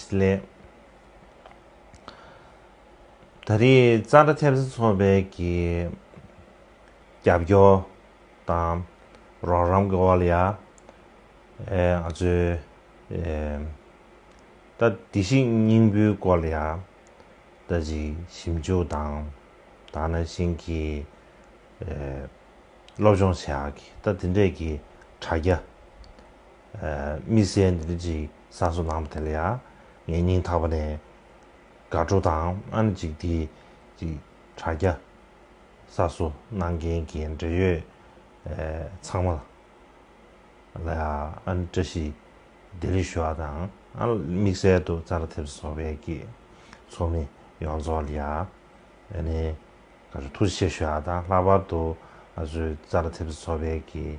སླད། ད་རེས་གཙང་སྦྲ་ཐེབས་རྩ་ཚོགས་པའི་ཀྱི་རྒྱབ་སྐྱོར་དང་རོགས་རམ་གྱི་འོག་ལ་ཡང་ང་ཚོས་ད་བདེ་སྐྱིད་སྙིང་པོའི་སྐོར་ལ་ཡང་ད་ཅིག་ཞིབ་འཇུག་དང་དང་ནང་བཞིན་གྱི་སློབ་སྦྱོང་བྱས་ཨ་གི་ད་དེ་འདྲས་ཀྱི་དྲ་རྒྱ། མི་ཟད་འདི་འདྲ་ཅིག་གསར་བཟོ་གནང་བ་དེ་ལ་ཡང་ངས་སྙིང་ཐག་པ་ནས་དགའ་སྤྲོ་དང་སྨོན་ལ་ཅིག་དེ་ཅིག་དྲ་རྒྱ་གསར་བཟོ་གནང་མཁན་གྱི་འབྲེལ་ཡོད་ཚང་མ་ལ་ཡང་ཨ་ནི་བཀྲ་ཤིས་བདེ་ལེགས་ཞུ་བ་དང་དམིགས་བསལ་དུ་རྩ་ལ་ཐེབས་བཟོ་བ་བེད་ཀྱི་ཚོགས་མི་ཡོངས་རྫོགས་ལ་ཡང་ཨ་ནི་ཐུགས་རྗེ་ཆེ་ཞུ་བ་དང་ལྷག་པར་དུ་ང་ཚོའི་རྩ་ལ་ཐེབས་བཟོ་བེད་ཀྱི་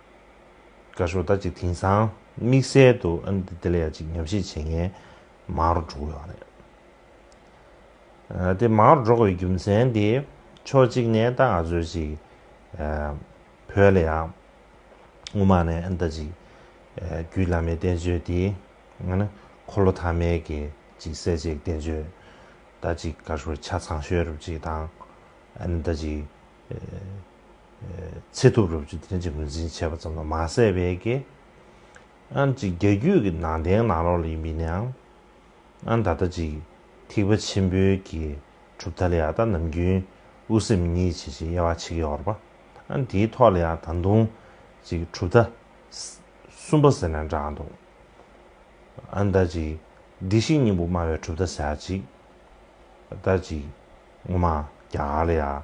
བཀའ་ཤོག་ད་ཅིག་དེང་སང་དམིགས་བསལ་དུ་ཨ་ནི་དེ་ལ་ཡང་ཅིག་ཉམས་བཞེས་བྱེད་མཁན་མང་རུ་འགྲོ་ཡོད་རེད། དེ་མང་རུ་འགྲོ་དགོས་པའི་རྒྱུ་མཚན་དེ་ཕྱོགས་གཅིག་ནས་ད་ང་ཚོས་ཅིག་བོད་ལ་ཡང་དབུ་མ་ནས་ཨ་ནི་ད་ཅིག་རྒྱུད་བླ་མའི་བསྟན་བཅོས་དེ་ང་ནི་འཁོར་ལོ་ཐ་མའི་གི་ཅིག་གསལ་བྱེད་ཀྱི་བསྟན་བཅོས་ད་ཅིག་བཀའ་ཤོག་ཆ་ཚང་ཤོད་རུབ་ཅིག་དང་ཨ་ནི་ད་ཅིག། ཚེ་ཐུབ་རབ་བྱུང་བསྟན་བྱའི་ངོས་འཛིན་བྱས་པ་ཙམ་ལ་མ་ཟད་པའི་དགེ། ཨན་ཅིག་རྒྱ་རྒྱུད་ཀྱི་ནང་བསྟན་ནང་རོགས་ལ་ཡིན་པའི་ནའང། ཨན་ད་ལྟ་ཅིག་ཐིག་པ་ཆེན་པོའི་གྱི་གྲུབ་མཐའ་ལ་ཡང་ད་ནམ་རྒྱུན་དབུ་སེམས་གཉིས་བྱེད་བྱེད་དབྱེ་བ་ཕྱེ་གི་ཡོར་པ། ཨན་དེའི་ཐོག་ལ་ཡང་ད་དུང་ཅིག་གྲུབ་མཐའ། གསུམ་པ་ཟེར་ནས་འདྲ་འང་འདུག། ཨན་ད་ཅིག་སྡིག་ཤིང་སྙིང་པོ་སྨྲ་བའི་གྲུབ་མཐའ་ཟེར་ཡག་ཅིག། ད་ཅིག་ངོ་མ་རྒྱ་གར་ལ་ཡང།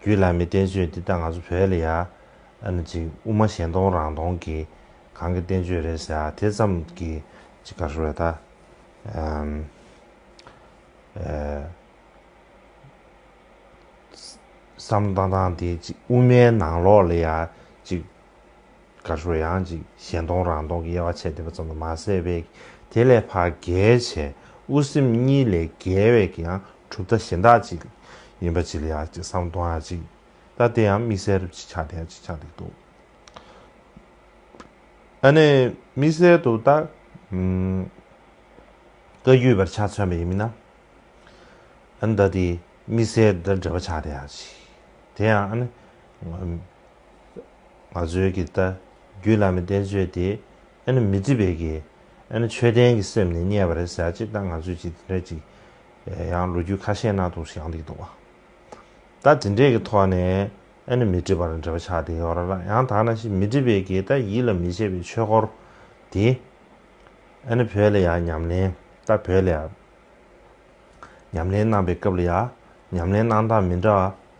རྒྱུད་བླ་མའི་བསྟན་བཅོས་འདི་ལྟ་ང་ཚོ་བོད་ལ་ཡ་ཨ་ནི་ཅིག་དབུ་མ་གཞན་སྟོང་རང་སྟོང་གི་གང་གི་བསྟན་བཅོས་རེད་ཟེར་ཨ་དེ་ཙམ་གྱི་ཅིག་ག་ཧྲུལ་ད་བསམ་བཏང་བཏང་དེ་ཅིག་དབུ་མའི་ནང་ལོགས་ལ་ཡ་ཅིག། གར་ཤོར་ཡང་ཅིག་གཞན་སྟོང་རང་སྟོང་གི་དབྱེ་བ་ཕྱེ་བསྡད་པ་ཙམ་དུ་མ་ཟད་པས་དེ་ལས་བར་བརྒལ་བྱས་དབུ་སེམས་གཉིས་ལས་བརྒལ་བས་ཀྱང་གྲུབ་མཐའ་གཞན་དག་ཅིག་ཡིན་པ་ཅི་ལ་ཡག་ཅིག་བསམ་སྟོང་ཡང་ཅིག་ལྟ་དེ་ཡང་དམིགས་བསལ་རུ་ཅིག་ཆགས་དེ་ཡང་ཅིག་ཆགས་འདུག་འདུག་ཨ་ནི་དམིགས་བསལ་དུ་ལྟ་ཀ་རྒྱུས་པར་ཆ་མཚོན་པ་ཡིན་མིན་ན་ཨ་ནི་ལྟ་དེ་དམིགས་བསལ་འདྲ་འདྲ་བ་ཆགས་དེ་ཡང་ཅིག་དེ་ཡང་ཨ་ནི། ང་ཚོའི་གི་རྟ་རྒྱུད་བླ་མའི་བསྟན་བཅོས་དེ་ཨེ་ན་མི་འདྲི་བའི་གི་ཨེ་ན་ཆོས་ལྡན་གི་སེམས་ནས་རྙེད་པ་རེད་ཟེར་ཅིག་ད་ང་ཚོས་ཅིག་དེ་འདྲ་ཅིག་ཡང་ལོ་རྒྱུས་ཁ་ཤས་ནང་དུ་ཞག་འདེགས་འདུག་བ། ད་དེ་འདྲའི་གི་ཐོག་ནས་ཨེ་ན་མི་འདྲི་བར་འདྲི་བ་ཆགས་དེ་ཡོད་ར་ར་ཡང་དག་ན་ཞིག་མི་འདྲི་བའི་གི་རྟ་ཡིད་ལ་མི་བྱེད་པའི་ཆོས་སྐོར་དེ་ཨེ་ན་བོད་ལ་ཡང་ཉམས་ལེན་ད་བོད་ལ་ཡང་ཉམས་ལེན་གནང་པའི་སྐབས་ལ་ཡང་ཉམས་ལེན་གནང་སྟངས་མི་འདྲ་བ་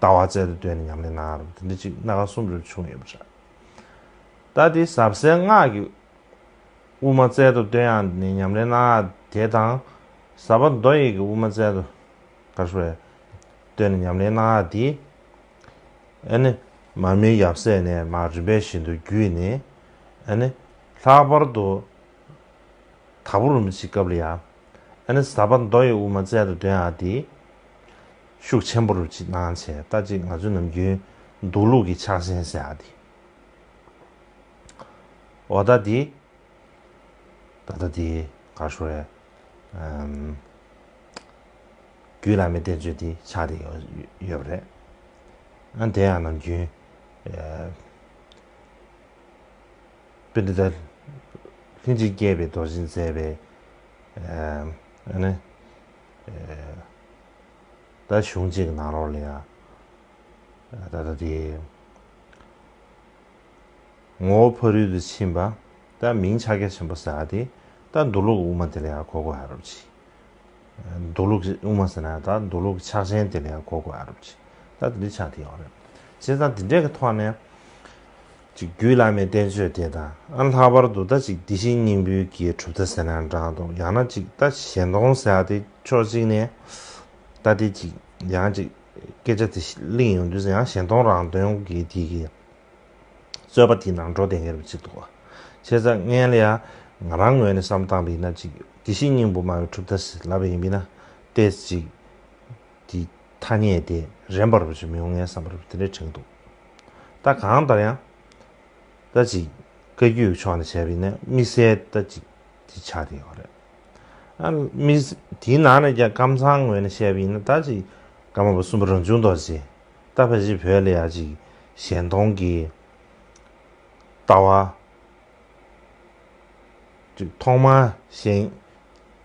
ལྟ་བ་རྩལ་དུ་བཏོན་ནས་ཉམས་ལེན་གནང་རུང་དེ་འདྲ་ཅིག་སྣ་ཁ་གསུམ་རེར་བྱུང་ཡོད་པ་འདྲ། ད་དེ་ཟབ་གསལ་སྔགས་ཀྱི་དབུ་མ་རྩལ་དུ་བཏོན་ཡང་ནི་ཉམས་ལེན་གནང་དེ་དང། ཟབ་པ་མདོ་ཡི་གི་དབུ་མ་རྩལ་དུ་ག་ཧྲུ་བས་བཏོན་ནས་ཉམས་ལེན་གནང་དེ། ཨེ་ནི། མ་མི་ཡབ་སྲས་ནས་མ་རིམ་པས་བཞིན་དུ་བརྒྱུད་ནས། ཨེ་ནི། ལྷག་པར་དུ། དྭགས་པོ་རུ་མི་ཚིག་སྐབས་ལ་ཡང། ཨེ་ནི་ཟབ་པ་མདོ་ཡི་དབུ་མ་རྩལ་དུ་བཏོན་ཡང་དེ། ཤུགས་ཆེན་པོ་རུ་ཅིག་གནང་བྱས་ལྟ་ཅི་ང་ཚོའི་ནམ་རྒྱུན་འདུག་ལུགས་ཀྱི་ཕྱག་ཆེན་ཟེར་ཡག་འདི་འོ་ད་འདི་ད་ལྟ་འདི་གར་ཤོར་ཡ་རྒྱུད་བླ་མའི་བསྟན་བཅོས་འདི་ཕྱག་འདི་ཡོད་པ་རེད་ཨ་དེ་ཡང་ནམ་རྒྱུན་དཔེ་འདི་ད་ལྷིང་འཇིགས་སྐྱེས་པའི་རྡོ་རྗེས་མཛད་པའི་ཨ་ནི། ད་གཞུང་གཅིག་གི་ནང་རོགས་ལ་ཡང་ད་ལྟ་དེ་ངོ་བོ་ཕ་རུལ་དུ་ཕྱིན་པ་ད་མིང་ཕྱག་རྒྱ་ཆེན་པོ་ཟེར་བ་དེ་ད་འདུག་ལུགས་དབུ་མ་དེ་ལ་ཡང་གོ་དགོས་ཨ་རབ་ཅི། འདུག་ལུགས་དབུ་མ་ཟེར་ན་ད་འདུག་ལུགས་ཕྱག་ཆེན་དེ་ལ་ཡང་གོ་དགོས་ཨ་རབ་ཅི། ད་དེ་འདྲའི་ཆ་དེ་ཡོད་རེད། བྱས་ཙང་དེ་འདྲའི་གི་ཐོག་ནས། ཅིག་རྒྱུད་བླ་མའི་བསྟན་བཅོས་དེ་དང་ལྷག་པར་དུ་ལྟ་ཅིག་འདི་བཞིན་སྙིང་པོའི་དགེ་སྒྲུབ་ལྟ་ཟེར་ན་འདྲང་འདུག་ཡང་ན་ཅིག་ལྟ་གཞན་སྟོང་ཟེར་ཏེ་ཕྱོགས་གཅིག་ནས་ལྟ་སྟེ་ཅིག་ཡང་ཅིག་སྐད་ཆ་དེ་གླེང་ཡོང་དུས་ཡང་གཞན་སྟོང་རང་དོན་གྱི་དེ་གི་རྩོད་པ་དེ་ནང་འགྲོ་བདེན་གྱི་རབ་ཅིག་འདུག་ཆེ་ཚ་ངན་ལས་ང་རང་ངོས་ནས་བསམ་སྟངས་པས་ན་ཅིག་འདི་བཞིན་སྙིང་པོ་སྨྲ་བའི་གྲུབ་ལྟ་ཟེར་ལབ་པ་ཡིན་པས་ན་ལྟས་ཅིག་དེའི་ཐ་སྙད་དེ་རན་པར་བྱེད་མི་འོང་ངའི་བསམ་པར་དེ་འདྲའི་དྲན་འདུག་ད་གང་ལྟར་ཡང། ད་ཅིག་བཀའ་རྒྱུད་ཀྱི་ཕྱོགས་ནས་བྱས་པ་ཡིན་ན་དམིགས་བསལ་ད་ཅིག་དེ་ཆགས་བསྡད་ཡོད་རེད། དེའི་ནང་ནས་ཀྱང་ཀམ་ཚང་ངོས་ནས་བཤད་པ་ཡིན་ན་ད་ཅིག་ཀ་མ་པ་གསུམ་པ་རང་བྱུང་རྡོ་རྗེ་ད་ཕ་གཞིས་བོད་ལ་ཡ་ཅིག་གཞན་སྟོང་གི་ལྟ་བ། ཐོག་མར་གཞན།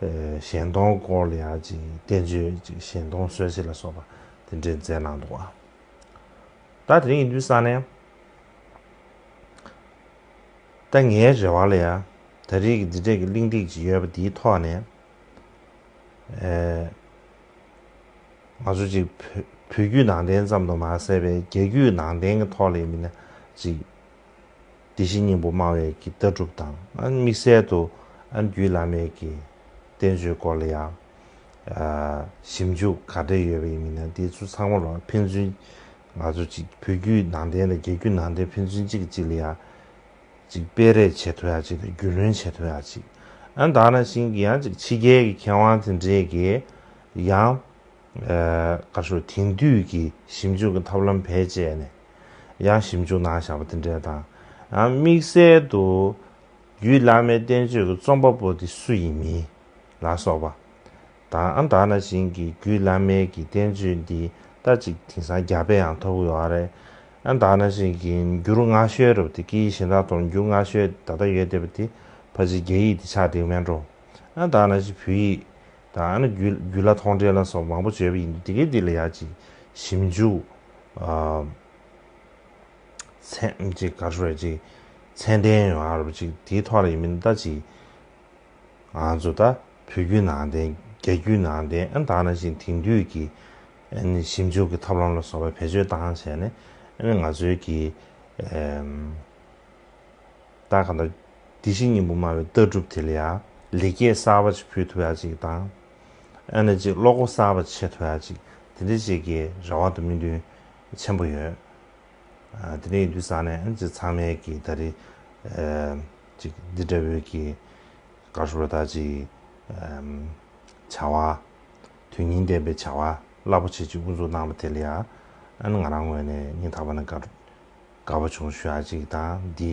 གཞན་སྟོང་སྐོར་ལ་ཡང་ཅིག་བསྟན་བཅོས་ཅིག་གཞན་སྟོང་གསོལ་བྱེད་ལ་སོགས་པ་དེ་འདྲས་མཛད་གནང་འདུག། ད་དེ་རིང་ཡིན་དུས་སང་ནས་ད་ངའི་རེ་བ་ལ་ཡང་ད་རིས་ཀྱི་འདི་འདྲས་ཀྱི་གླིང་སྟེགས་ཅིག་ཡོད་པ་འདིའི་ཐོག་ནས་ང་ཚོ་ཅིག་བོད་བརྒྱུད་ནང་བསྟན་ཙམ་དུ་མ་ཟད་པའི་རྒྱ་བརྒྱུད་ནང་བསྟན་གྱི་ཐོག་ལས་མིན་ན་ཅིག་དེ་བཞིན་སྙིང་པོ་སྨྲ་བའི་ཀྱི་ལྟ་གྲུབ་དང། དམིགས་བསལ་དུ་ཨ་འགྱུས་བླ་མེད་ཀྱི་བསྟན་བཅོས་སྐོར་ལ་ཡང་ཞིབ་འཇུག་ག་འདྲས་ཡོད་པ་ཡིན་མིན་ན་དེ་ཚོ་ཚང་མ་ལ་ཕན་ཚུན་ང་ཚོ་གཅིག་བོད་བརྒྱུད་ནང་བསྟན་དང་རྒྱ་བརྒྱུད་ནང་བསྟན་ཕན་ཚུན་གཅིག་གི་གཅིག་ལ་ཡང་གཅིག་སྤེལ་རེས་བྱེད་ཐུབ་ཡག་གཅིག་དང་རྒྱུས་ལོན་བྱེད་ཐུབ་ཡག་གཅིག་ཨ་འདང་རང་བཞིན་གྱི་ཡང་གཅིག་ཕྱི་རྒྱལ་གྱི་མཁས་དབང་དེ་འདྲས་ཀྱིས་ཡང་ཀར་ཤོར་དེང་དུས་ཀྱི་ཞིབ་འཇུག་གི་ཐབས་ལམ་བེད་སྤྱད་ནས་ཡང་ཞིབ་འཇུག་གནང་བཞག་པ་དེ་འདྲའི་དང། དམིགས་བསལ་དུ། རྒྱུད་བླ་མའི་བསྟན་བཅོས་ཀྱི་རྩོམ་པ་པོ་དེ་སུ་ཡིན་མིན་ལ་སོགས་པ། དང་ད་ན་བཞིན་གྱི་རྒྱུད་བླ་མའི་གྱི་བསྟན་བཅོས་འདི་ལྟ་ཅིག་དེང་སང་རྒྱ་དཔེ་ཡང་ཐོབ་ཡོད་རེད། ད་ན་བཞིན་གྱི་འགྱུར་སྔ་ཤོས་རུ་དེ་ཀྱི་གཞི་མདངས་དོར་འགྱུར་སྔ་ཤོས་ད་ལྟ་ཡོད་བསྡད་པ་དེ་ཕ་གཞིས་རྒྱ་ཡིག་དེ་ཆགས་འདེགས་མེད་འགྲོ། ད་ན་བཞིན་བོད་ཡིག། ད་ཡང་ན་རྒྱུད་ལ་ཐོག་འདྲེན་ལ་སོགས་མང་པོ་བརྗོད་པ་ཡིན་འདུག་དེ་གའི་འདི་ལ་ཡག་ཅིག་ཞིབ་འཇུག་ཚན་ཅིག་ག་རེ་རེད་ཅིག་ཚན་ལྡན་ཡོང་ཨ་རོ་ཅིག་དེའི་ཐོག་ལ་ཡིན་མིན་ལྟ་ཅིག་ང་ཚོ་ད་བོད་རྒྱུད་ནང་བསྟན་རྒྱ་རྒྱུད་ནང་བསྟན་ཨན་ད་ན་བཞིན་དེང་དུས་ཀྱི་ཨན་ཞིབ་འཇུག་གི་ཐབས་ལམ་ལ་སོགས་པ་བེད་སྤྱོད་བཏང་བྱས་ནས་ཨན་ང་ཚོའི་གི། བདག་གང་དག་དེ་བཞིན་ཉིན་པོ་སྨྲ་བའི་ལྟ་གྲུབ་དེ་ལ་ཡང། ལེགས་སྐྱེས་གསར་བ་ཅིག་ཕུལ་ཐུབ་ཡ་ཅིག་དང། ཨ་ནེ་ཅིག་བློ་སྒོ་གསར་བ་ཕྱེ་ཐུབ་ཡ་ཅིག་དེ་འདྲའི་བྱེད་ཀྱི་རེ་བ་དང་སྨོན་འདུན་ཆེན་པོ་ཡོད། དེ་ནས་ཡིན་དུས་ས་གནས་ཨ་ཅིག་ཚང་མས་ཀྱི་ད་རེས་ཅིག་འདི་འདྲ་བོའི་ཀྱི་དགའ་བསུ་རོ་ད་ཅིག་བྱ་བ། དོན་སྙིང་ལྡན་པའི་བྱ་བ་རླབས་པོ་ཆེ་ཅིག་དབུ་འཛུགས་གནང་བ་དེ་ལ་ཡང་ཨ་ནེ་ང་རང་ངོས་ནས་སྙིང་ཐག་པ་ནས་དགའ་བསུ་དགའ་བ་ཆུང་ཤོས་ཨ་ཅིག་དང་འདི།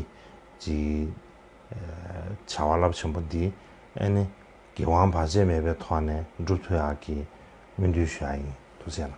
ཅེས། བྱ་བ་རླབས་ཆེན་པོ་འདི། ཨེ་ནི། དགེ་དབང་བར་ཆད་མེད་པའི་ཐོག་ནས་འགྲུབ་ཐུ་ཡག་གི། སྨོན་འདུན་ཞུ་ཡག་ཡིན་དུ་སེམས།